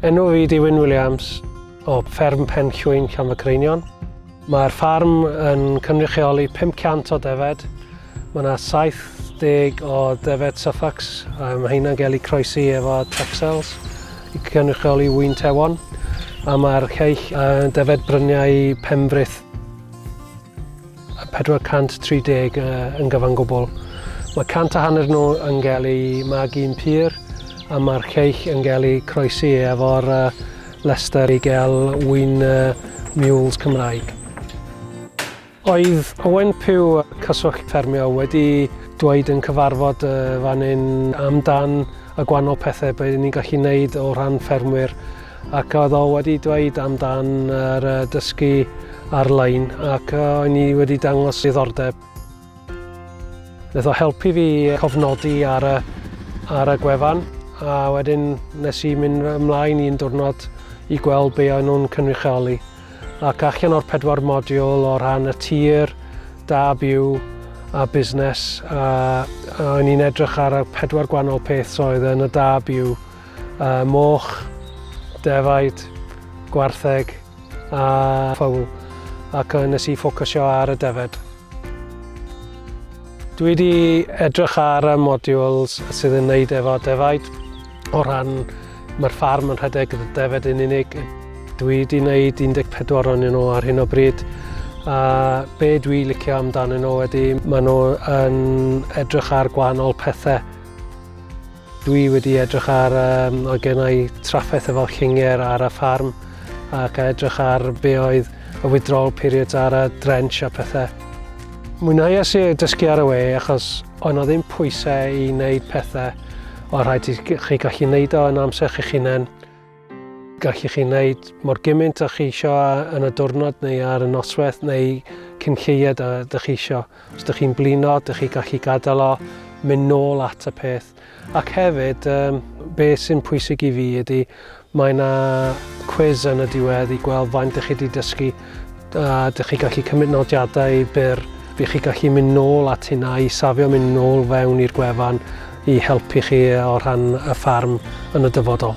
Enw fi di Wyn Williams o fferm Pen Llwyn Llan y Creinion. Mae'r ffarm yn cynrychioli 500 o defed. Mae yna 70 o defed Suffolk. Um, mae hynna'n gael ei croesi efo Texels i cynrychioli wy'n tewon. A mae'r lleill uh, defed bryniau Pembrith a 430 yn gyfan gwbl. Mae cant a hanner nhw yn cael eu magu'n pur a mae'r lleill yn cael eu croesi efo'r llestr i gael ŵyn mules Cymraeg. Oedd Owen Pugh, Cyswllt Ffermio, wedi dweud yn cyfarfod fan hyn amdan y gwahanol pethau bydden ni'n gallu neud o rhan ffermwyr Ac oedd o wedi dweud amdan yr uh, dysgu ar-lein ac uh, o'n i wedi dangos diddordeb. Nath o helpu fi cofnodi ar y, ar y gwefan a wedyn nes i mynd ymlaen i'n diwrnod i gweld be o'n nhw'n cynrychioli. Ac allan o'r pedwar modiwl o rhan y tir, da byw, a busnes a, a o'n i'n edrych ar y pedwar gwahanol peth oedd yn y da byw uh, moch, defaid, gwartheg a ffwl, ac nes i ffocysio ar y defed. Dwi wedi edrych ar y modules sydd yn wneud efo defaid o ran mae'r ffarm yn rhedeg y defed yn unig. Dwi wedi wneud 14 o'n nhw ar hyn o bryd a be dwi licio amdanyn nhw wedi maen nhw yn edrych ar gwahanol pethau Dwi wedi edrych ar um, o gennau trafferth efo llinger ar y ffarm ac a edrych ar be oedd y withdrawal periods ar y drench a pethau. Mwynhauais i dysgu ar y we achos o'n o ddim pwysau i wneud pethau o rhaid i chi gallu wneud o yn amser chi'ch hunain. Gallwch chi wneud mor gymaint â chi eisiau yn y diwrnod neu ar y noswaith neu cyn lleied a ydych chi eisiau. Os ydych chi'n blino, ydych chi gallu gadael o, mynd nôl at y peth. Ac hefyd, um, be sy'n pwysig i fi ydy, mae yna quiz yn y diwedd i gweld faint ydych chi wedi dysgu a dych chi gallu cymryd nodiadau byr, bydd chi gallu mynd nôl at hynna i safio mynd nôl fewn i'r gwefan i helpu chi o rhan y ffarm yn y dyfodol.